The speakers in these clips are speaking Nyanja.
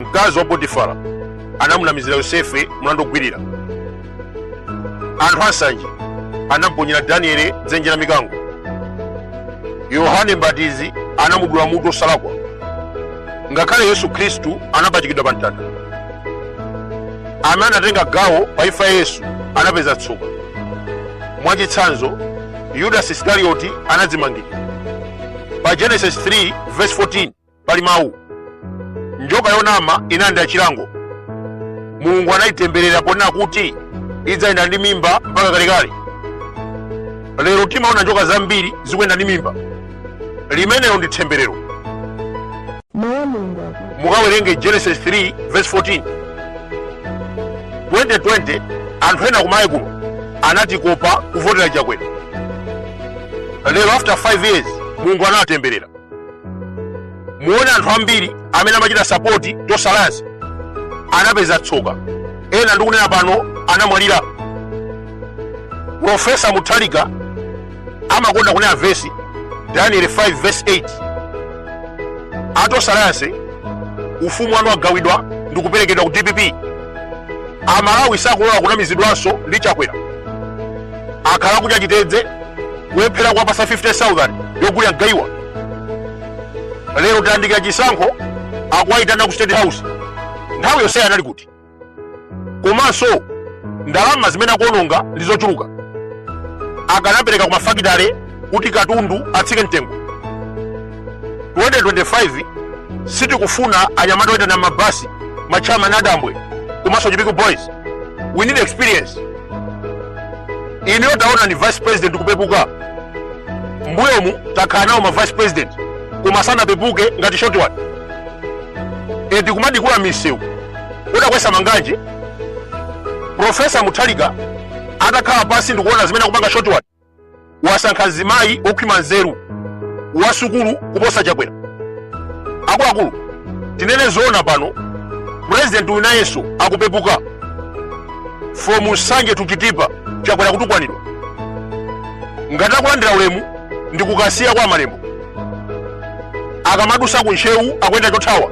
mkazi wa potifara anamunamizira yosefe mlandu wogwirira anthu ansanje anamuponyera danieli m'dzenje la mikango yohane mbatizi anamudula mutu osalakwa ngakhale yesu khristu anapachikidwa pa mtanda amene anatenga gawo pa imfa ya yesu anapeza tsoka mwachitsanzo yudasi iskarioti anadzimangirira pa genesis 3 verse 14 Pali mawu, njoka yonama inalandira chilango. Mulungu anayitemberera ponena kuti idzayenda ndi mimba mpaka kalekale. Lero timaona njoka zambiri zikuyenda ndi mimba. Limenelo ndi temberero. Mawu a Mulungu akuti mukawerenge genesis 3 verse 14 2020 anthu ena kumayiko kuno anatikopa kuvotera chakwera lero after 5 years mulungu anawatemberera muone anthu ambiri amene amachita sapoti tonse alliance anapeza tsoka ena ndikunena pano anamwalira profesa muthalika amakonda kunena vesi daniel 5 vesi 8 a tonse alliance ufumu wanu wagawidwa ndi kuperekedwa ku dpp amalawi sakulola kunamizidwanso ndi chakwera akhala akudya chitedze kulephera kuwapatsa 5000 yogulira mgaiwa lero tayandikira chisankho akuwayitana ku state house nthawi yonseyi anali kuti komanso ndalama zimene akuononga ndi zochuluka akanapereka ku mafakitale kuti katundu atsike mtengo 2025 sitikufuna anyamata oyitanira mabasi a chamba ndi adambwe komanso chipiku boys we need experience ineyo taona ndi vice president kupepuka mbuyomu takhala nawo ma vice president koma sanapepuke ngati short one eti kumadikula misewu kudansa manganje profesa muthalika atakhala pansi ndikuona zimene akupanga short one wasankha mzimayi wokhwima nzeru wasukulu kuposa chakwera akuluakulu tinene zoona pano purezidenti uyu nayenso akupepuka from nsanje to chitipa chakwera kutukwanidwa ngati akulandira ulemu ndi kukasiya kwa malembo akamadutsa ku ntcheu akuyenda chothawa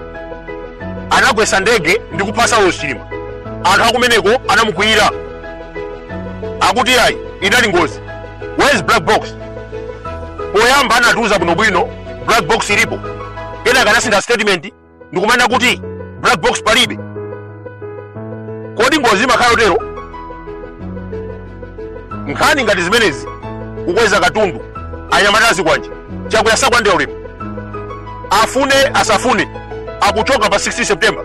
anagwetsa ndege ndi kupha saulos chilima anthu akumeneko anamukwiyira akuti ayi inali ngozi where is black box poyamba anatiuza bwinobwino black box ilipo kenaka anasintha statement ndikumanena kuti black box palibe kodi ngozi imakhala yotero nkhani ngati zimenezi kukweza katundu anyamata a zikwanje Chakwera sakwandera ulemu afune asafune akuchoka pa 16 september